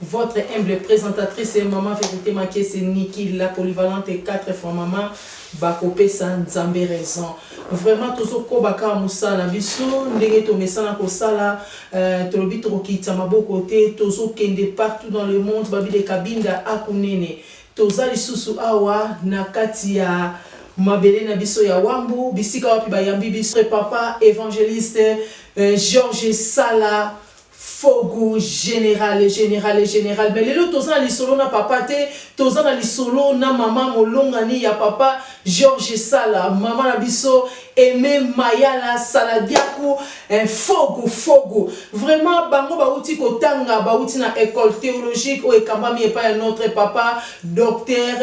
Votre humble presentatrice maman verite makiese Nicky la polyvalente 4 fois maman bako pesa nzambe raison vraiment tozo koba kaka musala na biso ndenge tomesana kosala euh, tolobi tokokitisa maboko te tozo kende partout dans le monde babide kabinda akunene toza lisusu awa na kati ya mabele na biso ya wambu bisika wapi bayambi biso papa evangeliste euh, Georges Sala Fogu generale generale generale mais lelo toza na lisolo na papa te toza na lisolo na maman molongani ya papa George Sala maman na biso Aime Mayala Saladiaku eh Fogu Fogu vraiment bango bawuti kotanga bawuti na ecole theologique oyo ekambami epai ya notre papa Docteur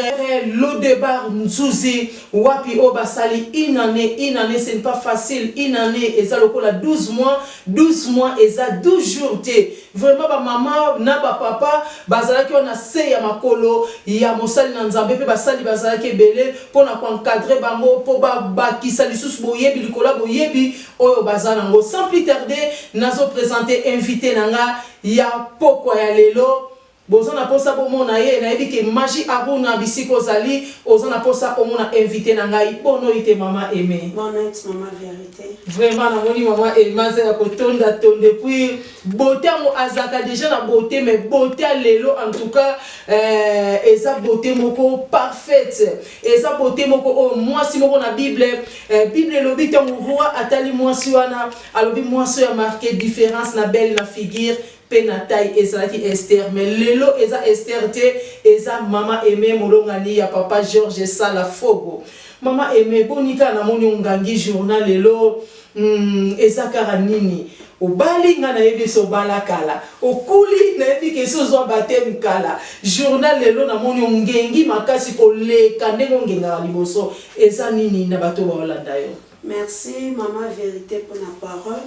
Lodebar Nzuzi wapi oyo basali une annee une annee ce n'est pas facile une annee eza lokola 12 mois 12 mois eza 12 jours te vraiment ba maman na ba papa bazalaki wana na se ya makolo ya mosali na nzambe pe basali bazalaki ebele pona ko encadre bango po ba bakisa lisusu boyebi likolo ya boyebi oyo baza na ngo sans plus tarde nazo presente invite na nga ya pokwa ya lelo Boza na posa bo mona ye nayebi ke magie Aruna bisika ozali oza na posa omona invite na ngai bo noyi te maman Aime. Bon nuit maman verite. Vraiment na moni maman Aime aza ya ko tonda tonda et puis beaute yango azalaka dejà na beaute mais beaute ya lelo en tout cas eh eza beaute moko parfaite eza beaute moko oyo muasi moko na bible eh bible elobi tango roi atali muasi wana alobi muasi oyo a marque difference na belle na figure pe na taille ezalaki Esther mais lelo eza Esther te eza maman Aime molongani ya papa Georges Sala Fogo maman Aime boni kaka namoni ongangi jour na lelo hum eza kaka nini obali nga nayebi esi obala kala okuli nayebi ke esi ozua bapteme kala jour na lelo namoni ongengi makasi koleka ndenge ongengaka liboso eza nini na bato baolanda yo. Merci maman verite pona parole.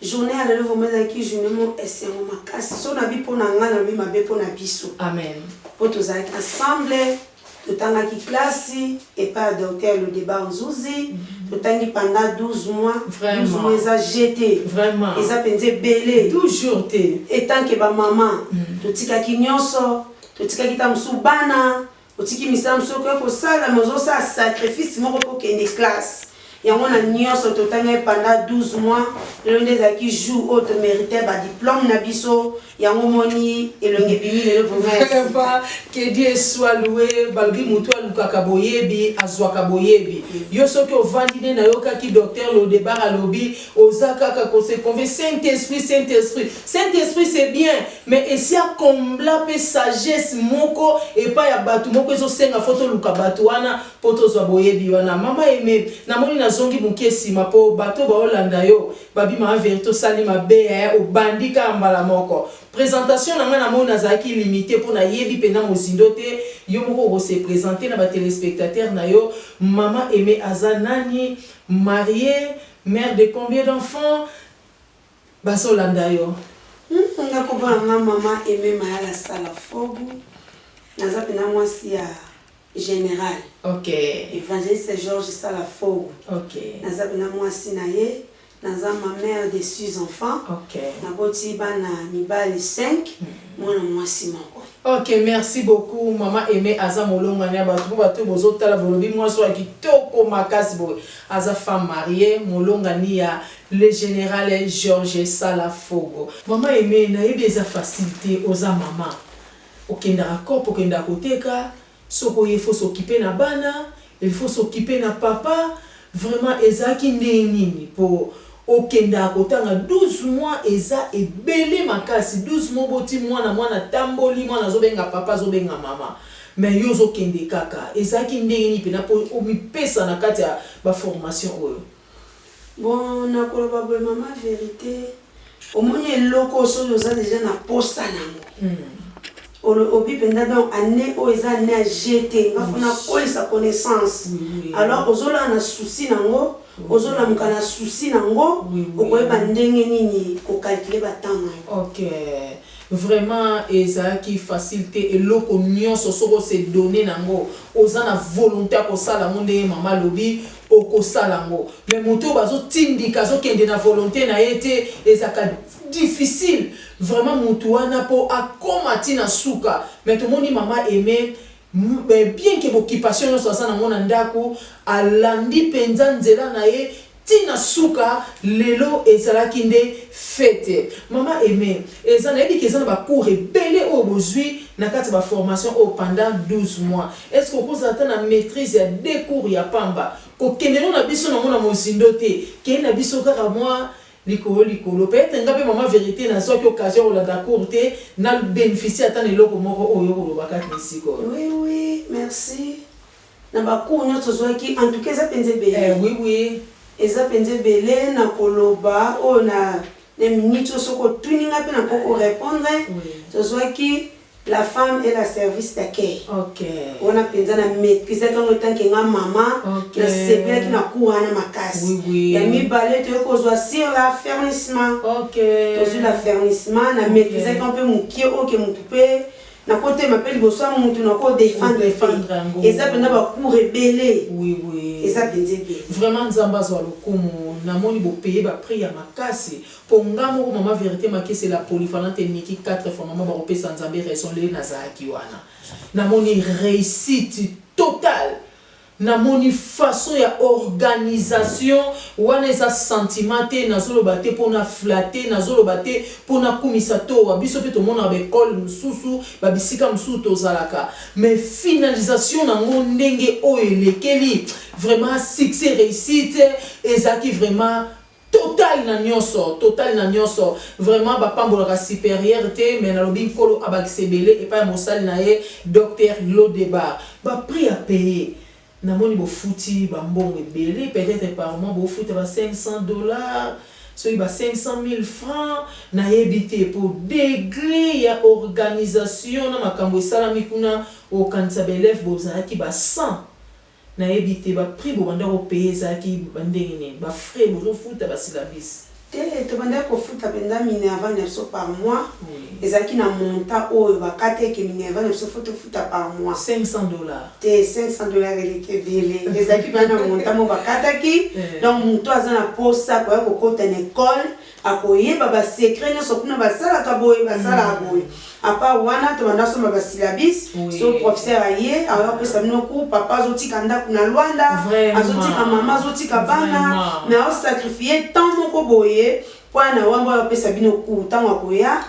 Journee ya lelo vraiment ezalaki journee moko esengo makasi soki nabi pona nga nalobi mabe pona biso Amen. po tozalaki ensemble totangaki classe epai ya docteur Lodebar Nzuzi totangi pendant 12 mois 12 Vraiment. mois eza jeu te Vraiment. eza penza ebele 12 jours te. etant que ba maman totikaki nionso totikaki ta mosusu bana Otiki misamu soki oye kosala mais ozo sala sacrifice moko po kende classe yango na nionso totangaki pendant 12 mois lelo nde ezalaki jour oyo to merite ba diplome na biso yango omoni elongi ebimi lelo vraiment ya sika que Dieu soit loue balobi mutu alukaka boyebi azuaka boyebi yo soki ovandi nde nayokaki docteur Lodebar alobi Oza kaka ko se conve saint esprit saint esprit saint esprit c'est bien mais esi a combla pe sagesse moko epai ya batu moko ezo senga faut toluka batu wana po tozua boyebi wana maman aime na moni na zongi mukie sima po batu oyo bao landa yo ba bima en verite osali mabe eh obandi kaka mbala moko presentation na ngai na moni nazalaki limite po na yebi pena mozindo te yo moko oko se presenter na ba telespectateurs na yo maman aime aza nani marie Mère de combien d'enfants bazo landa yo. Hum nga kombo na nga maman Aime Mayala Salafogu naza pena mwasi ya General okay. Evangeliste Georges Salafogu okay. naza pena mwasi na ye naza ma mère de six enfants okay. naboti bana mibali 5 mm. mwana mwasi moko Ok merci beaucoup maman aime aza molongani ya batu po batu oyo bozo tala bolobi mwasi oyo ya kitoko makasi boye aza femme marie molongani ya le general george sala fogo. Maman aime nayebi eza facile te oza maman okendaka coop okendaka koteka Soko ye faut s'occuper na bana, il faut s'occuper na papa, vraiment ezalaki ndenge nini po okendaka kotanga 12 mois eza ebele makasi 12 mois oboti mwana mwana atamboli mwana azobenga papa azobenga mama mais yo ozokende kaka ezalaki ndenge nini pena po omipesa na kati ya ba formation oyo. Bon nakoloba boye maman verite omoni eloko soki oza deja na posa nango olobi penda donc annee oyo eza annee ya jeux te nga faut nakolisa connaissance alors ozolala na souci nango ozolamuka na souci nango okoyeba ndenge nini ko calculer ba temps nayo. Ok vraiment ezalaki facile te eloko nionso soki o se donner nango oza na volonte ya kosala yango ndenge maman alobi Okosala yango mais moto oyo bazo tindika azo kende na volonte na ye te ezalaka difficile vraiment mutu wana po akoma ti na suka mais tomoni mama Aime bien que b'occupation nionso aza na ngo na ndaku alandi penza nzela na ye ti na suka lelo ezalaki nde fete mama Aime eza nayebi ke eza na ba cours ebele oyo bozui na kati ya ba formation oyo pendant 12 mois Est-ce que okozala ata na maitrise ya deux cours ya pamba? Kokende no na biso nango na mozindo te, kende na biso kaka mwa likolo likolo. Peut etre nga pe mama verite nazuaki occasion ya kolanda cours te, na beneficier ata na eloko moko oyo okoloba kati sikoyo. Oui oui merci na ba cours nionso tozuaki en tout cas eza penza ebele. Eh oui oui. Eza penza ebele na koloba oyo na na minute oyo soki otuni nga pe nakoki ko repondre. Oui. Tozuaki. La femme est la service d'accueil wana penza na maitrisaki yango etant que nga maman na sepelaki na cours wana makasi ya mibale toye kozua sur la fernissement tozui la fernissement na maitrisaki yango pe mukie oyo ke mutu pe na ko telema pe liboso ya mutu na ko defendre pe eza penza ba cours ebele eza penza ebele. Vraiment nzambe azua lokumu na moni bo paye ba prix ya makasi Po nga moko maman verite makesela polyvalente et Nicky quatre fois maman bako pesa nzambe raison le na zalaki wana na moni reussite total na moni façon ya organisation wana eza sentiment te nazo loba te po na flatter nazo loba te po na kumisa towa biso pe tomonaka ba ecole mususu ba bisika mususu tozalaka mais finalisation na ngo ndenge oyo elekeli vraiment succès reussite ezalaki vraiment Total na nioso total na nioso vraiment ba pambolaka superieur te mais na lobi nkolo abakisa ebele epai ya mosali na ye Docteur Lodebar ba prix a paye na moni bo futi ba mbongo ebele peut etre par mois bo futa ba 500 dollars soki ba 500 milles francs na yebi te po degre ya organisation na makambo esalami kuna okanisa ba elèves bozalaki ba 100 Na yebi te ba prix bo banda ko payer ezalaki ba ndenge nini? Ba frais bozo futa ba syllabus? Te, to bandaki ko futa penza Minerva na biso par mois, ezalaki na montant oyo ba kata eke Minerva na biso faut to futa par mois. 500 dollars? Te, 500 dollars eleki ebele, ezalaki penza na montant moko ba kataki, donc mutu aza na posa akoya ko kota na ecole, Akoyeba ba secret nionso kuna basalaka boye basalaka boye a part wana tobanda somba ba syllabus soki professeur aye akoya kopesa bino cours papa azotika ndaku na Luanda azotika maman azotika bana mais azo sacrifier temps moko boye po aya na wambo aya kopesa bino cours tango akoya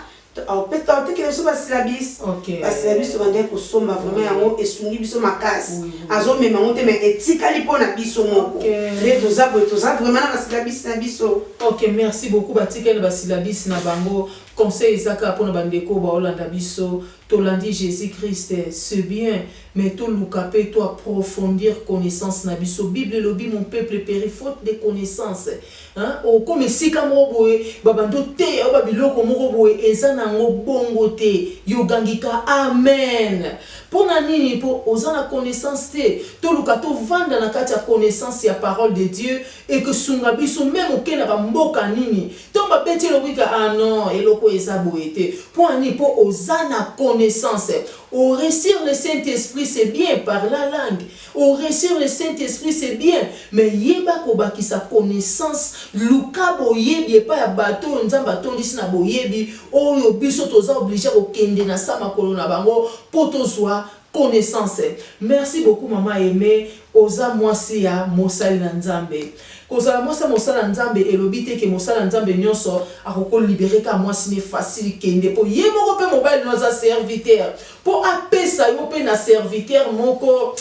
Atekela biso ba syllabis ba syllabis tobandaki kosomba vraiment yango esungi biso makasi azomema yango te mais etikali po na biso moko nde toza boye toza vraiment na ba syllabis na biso. Ok merci beaucoup batikali na ba syllabis na bango conseil eza kaka pona ba ndeko oyo baolanda biso tolandi Jesus Christ ce bien mais toluka pe to approfondir connaissance na biso bible elobi mon peuple peri faute de connaissance Hein okoma esika moko boye ba bandi oteya yo ba biloko moko boye eza na ngo bongo te yo gangi ka amen pona nini po oza na connaissance te toluka to vanda na kati ya connaissance ya parole de Dieu eko sunga biso meme oke na ba mboka nini tango ba beti elobika ah non eloko oyo eza boye te pona nini po oza na connaissance o recir le saint esprit c'est bien par la langue O recevre Saint Esprit c'est bien mais yeba kobakisa connaissance, luka boyebi epai ya bato oyo Nzambe atondisi na boyebi, oyo biso toza oblige kokende na sa makolo na bango mpo tozua connaissance. Merci beaucoup maman Aimee, oza mwasi ya mosali na Nzambe. Kozala mwasi ya mosali na Nzambe elobi te que mosali na Nzambe nionso akoki ko liberer kaka mwasi ne facile kende mpo ye moko mpe mobali no aza serviteur Po apesa yo pe na serviteur moko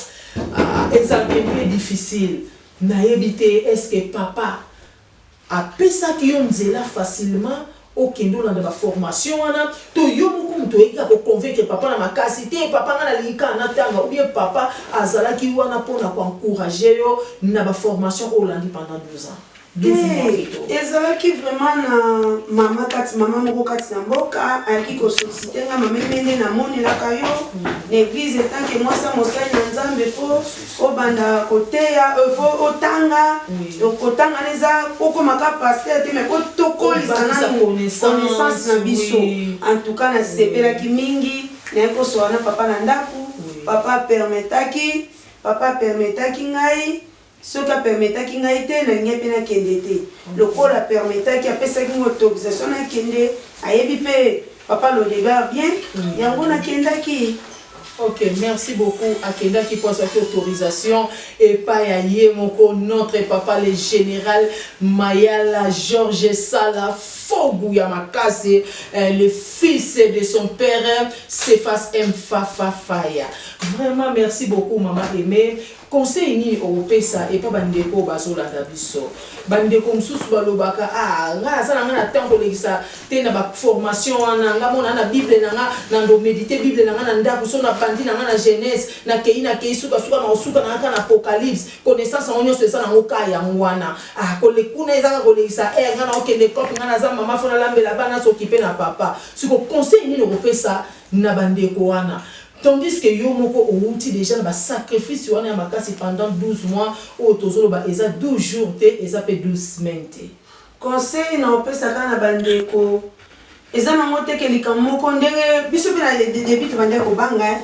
ah ezalaka un peu difficile. Nayebi te est ce que papa apesaki yo nzela facilement okende olanda ba formation wana to yo moko mutu oyaki kaka ko convaincre papa na makasi te papa nga nalingi kaka natanga ou bien papa azalaki wana pona ko encourager yo na ba formation oyo olandi pendant 12 ans? Hee ezalaki vraiment na mama kati mama moko kati na mboka ayaki ko sollicite nga mame mende na monelaka yo na eglise etant que mwasi ya mosali na nzambe fo obanda koteya fo otanga donc kotanga na eza okoma ka pasteur te mais tokolisa na connaissance na biso en tout cas nasepelaki mingi naye kosola na papa na ndako papa permetaki papa permetaki ngai Soki a permetaki ngai te, nalingai pe nakende te. Lokola a permetaki, apesaki ngai autorisation nakende, ayebi pe Papa Lodegard bien, yango nakendaki. Ok, merci beaucoup. Akendaki po azwaki autorisation epai ya ye moko notre papa le General Mayala George Sala Fogu ya makasi, le fils de son père Cephas Mfafa Faya. Vraiment merci beaucoup mama Aimee. Conseil nini okopesa epa ba ndeko oyo bazo landa biso? Ba ndeko mususu ba lobaka ah nga naza na nga na temps kolekisa te na ba formation wana, nga mona na bible na nga nando medite bible na nga na ndaku soki na bandi na nga na genese na keyi na keyi suka suka nako suka na nga kaka na apocalypse, connaissance yango nionso eza na ngo ka yango wana ah kole kuna eza kaka kolekisa heure nga nako kende coop nga naza maman faut na lambela bana na s'occuper na papa sikoyo conseil nini okopesa na ba ndeko wana tandis que yo moko owuti dejà na ba sacrifices wana ya makasi pendant 12 mois oyo tozo loba eza 12 jours te eza pe 12 semaines te. Conseil na opesa ka na ba ndeko eza na ngo te ke likambo moko ndenge biso pe na le debut tobandaki ko banga hein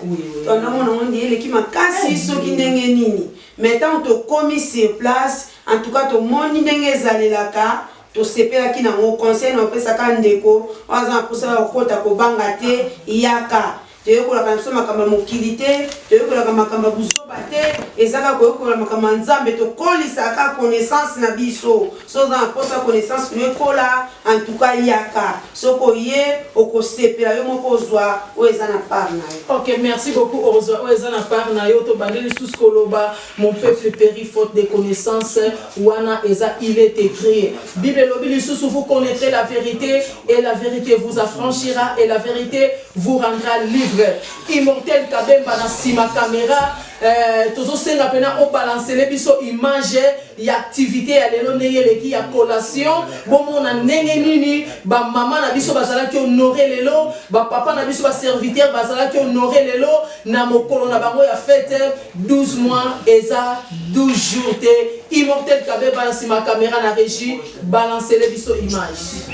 tobandaki komona ngo nde eleki makasi soki ndenge nini mais tango tokomi sur place en tout cas tomoni ndenge ezalelaka Tosepelaki na ngo conseil na opesa ka ndeko oyo aza na posa ya kokota kobanga te yaka toyekolaka na biso makambo ya mokili te toyekolaka makambo ya buzoba te eza kaka koyekola makambo ya nzambe tokolisaka kaka connaissance na biso so oza na posa connaissance no ekola antuka yaka soki oye okosepela yo moko ozwa oyo eza na part na yo ok merci beaucoup ozwa oyo eza na part na yo tobandi lisusu koloba Mon peuple perit faute de connaissance wana eza il est ecrit bible elobi lisusu vous connaitrez la verite et la verite vous affranchira et la verite vous rendra libre immortel kabemba na sima camera euh, tozosenga pena obalancele biso image ya activité ya lelo ndenge eleki ya collation bomona ndenge nini bamama na biso bazalaki honore lelo bapapa na biso baserviteur bazalaki honore lelo na mokolo na bango ya fete 12 mois eza 12 jours te immortel kabeba na sima camera na regie balancele biso image.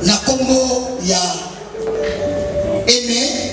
Na kombo ya Aime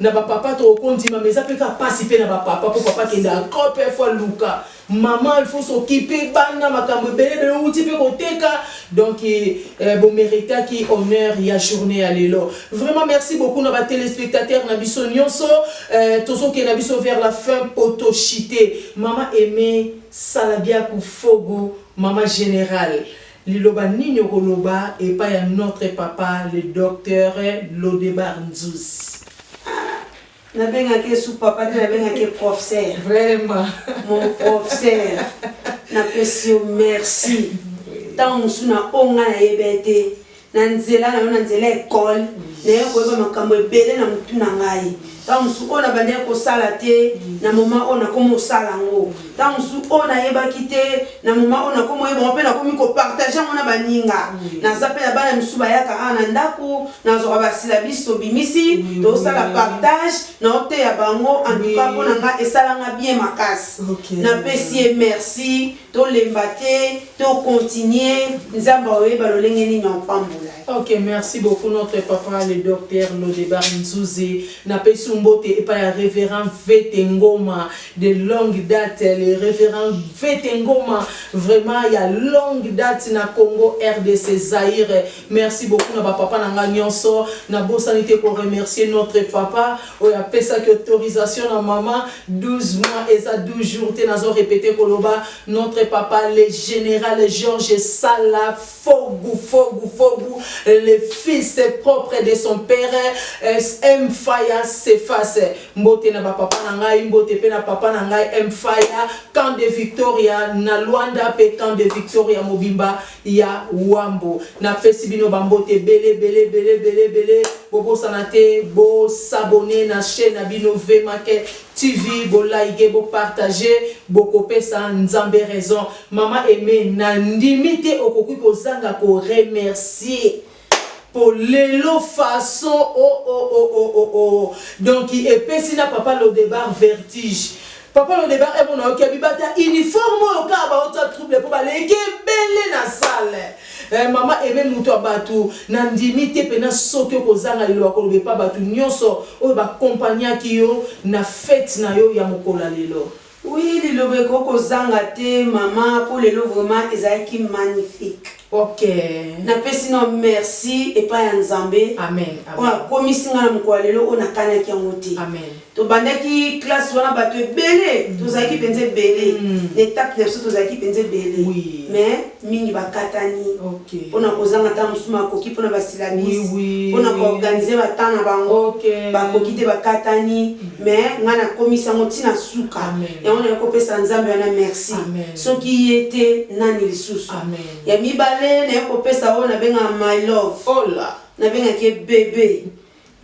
Na ba papa toko ko ndima mais eza pe kaka pasi pe na ba papa po papa akenda encore pe il faut aluka maman il faut s'occupe bana makambo ebele ebele owuti pe ko teka donc eh, bo meritaki honneur ya journee ya lelo vraiment merci beaucoup na ba telespectateurs na biso nionso eh, tozo kenda biso vers la fin poto chite maman aimee salabiaku fogo maman generale Liloba nini okoloba epai ya notre papa le Docteur Lodebar Nzuzi? Ah! Nabengaka ye su papa te, nabengaka ye profsser. Vraiment! Mon profsser, napesi yo merci. Tango mosusu na oyo ngai nayeba ye te, na nzela na yo, na nzela ya ecole, naye koyeba makambo ebele na motu na ngai. Tango mosusu oyo nabandaki kosala te, na moment oyo nakomi kosala yango. Tango mosusu oyo nayebaki te, na moment oyo nakomi koyeba yango mpe nakomi ko partager yango na baninga. Naza mpe na bana misusu bayaka awa na ndaku, nazwaka ba syllabus tobimisi, tosala partage, naoteya bango. En tout cas mpo na nga esala nga bien makasi. Napesi ye merci Tolemba te to continuer nzambe aoyeba lolenge nini aopambola yo. Ok merci beaucoup notre papa le Docteur Lodebar Nzuzi na pesi yo mbote epai ya reverend Vete Ngoma de longue date le reverend Vete Ngoma vraiment ya longue date na Congo rdc Zaire merci beaucoup na ba papa na nga nionso na bosani te ko remercier notre papa Oyo apesaki autorisation na maman 12 mois eza 12 jours te nazo repeter koloba notre papa le general Georges Sala Fogu Fogu Fogu le fils propre de son père M Faya Cephas mbote na ba papa na ngai mbote pe na papa na ngai M Faya camp de Victoria na Luanda pe camp de Victoria mobimba ya Huambo. Na pesi bino ba mbote ebele ebele ebele ebele ebele bo bosana te bo s'abonner na chaine na bino Vemake TV bo liker bo partager boko pesa Nzambe raison. Maman Aimee na ndimi te okoki ko zanga ko remercier. Po lelo façon oooooooo donc epesi na papa lodebar vertige papa lodebar heure mona oyoki abiba ata uniforme oyo kaka baotia trouble po baleki ebele na salle eh maman aime mutu ya batu na ndimi te pena soki okozanga liloba koloba epa batu nionso oyo ba compagnaki yo na fete na yo ya mokolo ya lelo Oui liloba ekoki kozanga te maman po lelo vraiment ezalaki magnifique. Ok. Na pesi nao merci epai ya Nzambe. Amen. Oyo akomisi nga na mokolo ya lelo oyo nakanaki yango te. Amen. Tobandaki classe wana bato ebele, tozalaki penza ebele. Na etape na biso tozalaki penza ebele. Oui. Mais. mingi bakatani okay. pona kozanga ntango mosusu makoki pona basilabisi oui, oui, pona oui. koorganize batemp na bango okay. bakoki te bakatani mm. mais ngai nakomisi yango ntina suka yango naye kopesa nzambe wana merci soki ye te nani lisusu ya mibale naye kopesa oyo nabengaka my love oh nabengaki ye bebe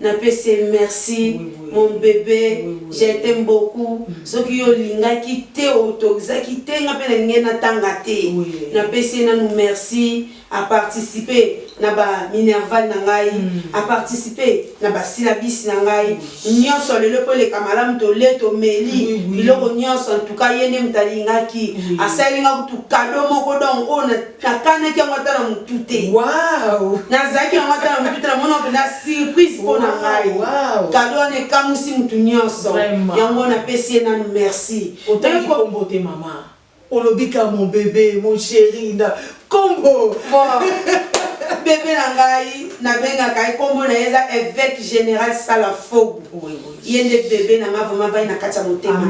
Na pesi ye merci mon bebe je t'aime beaucoup soki yo olingaki te autorisaki te nga pe na lingaki na tanga te na pesi ye nanu merci a participe na ba minerval na ngai a participe na ba syllabus na ngai nionso lelo po eleka malamu tole tomeli biloko nionso en tout cas ye nde mutu alingaki asali nga kutu cadeau moko donc oyo na nakanaki yango ata na motu te wow. nazalaki yango ata na motu te namona mpenza surprise mpo na ngai wow. kado wana ekamusi motu nyonso yango napesi ye nanu merci otangikombo te mama olobi ka mon bebe mon chéri na kombo bebe na ngai nabengaka ye nkombo na ye eza évêque général sala fogu ye nde bebe na ngai vraimen vai na kati ya motema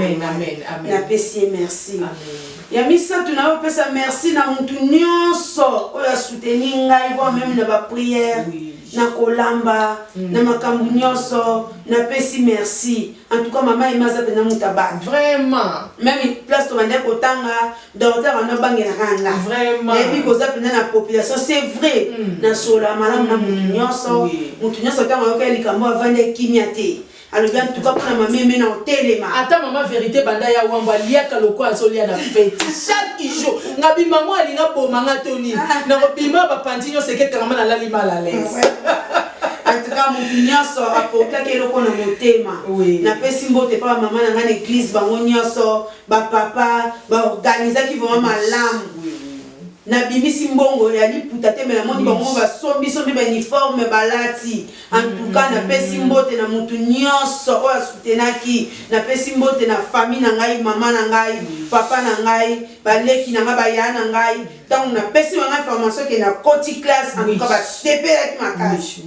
napesi ye merci Amen. Ya misatu nayo pesa merci na mutu nionso oyo a souteni ngai voire meme na ba prière na kolamba na makambu nionso na pesi merci en tout cas mama Emma aza penza mutu ya batu vraiment meme place tobandaki kotanga Dorothée abanda obangelaka nga vraiment nayebi koza penza na population c'est vrai na solola malamu na mutu nionso mutu nionso tango ayoka likambo avanda kimia te Alobi en tout cas pona ma meme na otelema. Ata mama verite banda ya wambo aliaka lokola azolia na feti chaque jour nga bima ngo alinga boma nga to nini ah. na kobima ba panzi nyo seke kangama na lali mal à l'aise ah en tout cas moto nyonso apokaki eloko na motema napesi mbote mpa bamama na ngai na eglize bango nyonso bapapa baorganizaki vraimen malamu nabimisi mbongo ya liputa te me namoni bango basombisombi bauniforme balati En tout cas na pesi mbote na mutu nionso oyo a soutenaki, na pesi mbote na famille na ngai, maman na ngai, papa na ngai, ba leki na ngai, ba yaya na ngai, tangu na pesi bango information ke na koti classe, en tout cas ba sepelaki makasi,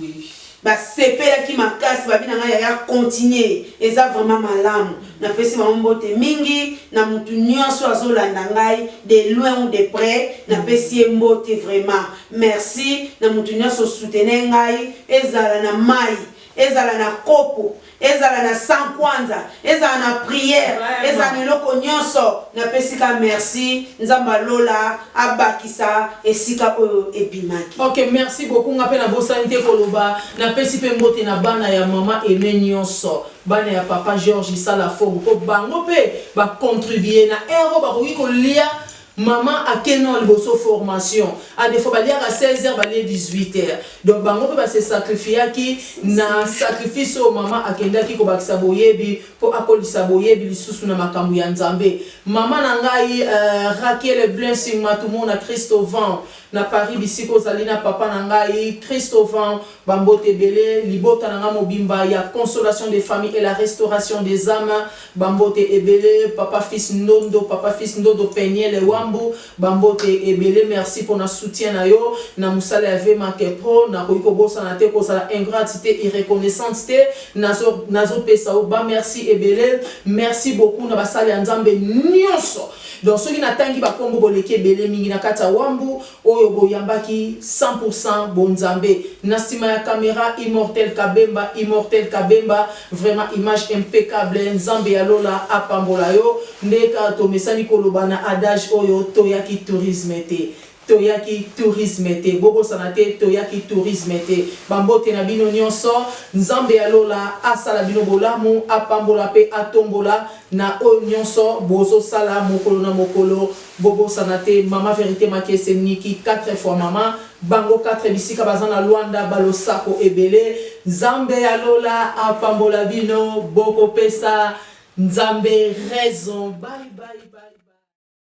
ba sepelaki makasi, ba bi na ngai yaya continue, eza vraiment malamu, na pesi bango mbote mingi, na mutu nionso oyo azo landa ngai de loin ou de près, na pesi ye mbote vraiment. Merci na mutu nionso soutenez ngai ezala na mayi ezala na kopo ezala na sans kwanza ezala na prière ezala na eloko nionso na pesi ka merci nzambe ya lola abakisa esika oyo ebimaki. Ok merci beaucoup nga pe na bosani te koloba na pesi pe mbote na bana ya maman Aime nionso bana ya papa George sala fort po bango pe ba contribue na heure oyo bakoki kolia Maman ake non liboso formation a defo baliaka 16 heures balie 18 heures donc bango pe ba se sacrifiaki na sacrifice oyo maman akendaki kobakisa boyebi po akolisa boyebi lisusu na makambo ya nzambe maman na ngai euh rakele blessing matumona christovan na paris bisika ozali na papa na ngai christovan ba mbote ebele libota na ngai mobimba ya consolation de famille et la restauration des ames Ba mbote ebele papa fils ndondo papa fils ndodo penielle wambu ba mbote ebele merci pona soutien na yo na musala ya vmac pro nakoki kobosana te kozala ingrate te ireconnaissante te nazo nazo pesa yo ba merci ebele merci beaucoup na basali ya nzambe nionso donc soki na tangi ba kombo boleki ebele mingi na kati ya wambu oyo boyambaki cent pour cent bonzambe na sima ya camera immortel kabemba immortel kabemba vraiment image impeccable nzambe ya lola apambola yo nde kaka tomesani koloba na adage oyo toyaki tourisme te toyaki tourisme te bobosana te toyaki tourisme te ba mbote na bino nionso nzambe ya lola asala bino bolamu apambola pe atombola na oyo nionso bozosala mokolo na mokolo Bobosana te maman verite makiese nicky quatre fois maman bango quatre bisika baza na luanda ba losako ebele nzambe ya lola apambola bino boko pesa nzambe raison bye bye bye bye.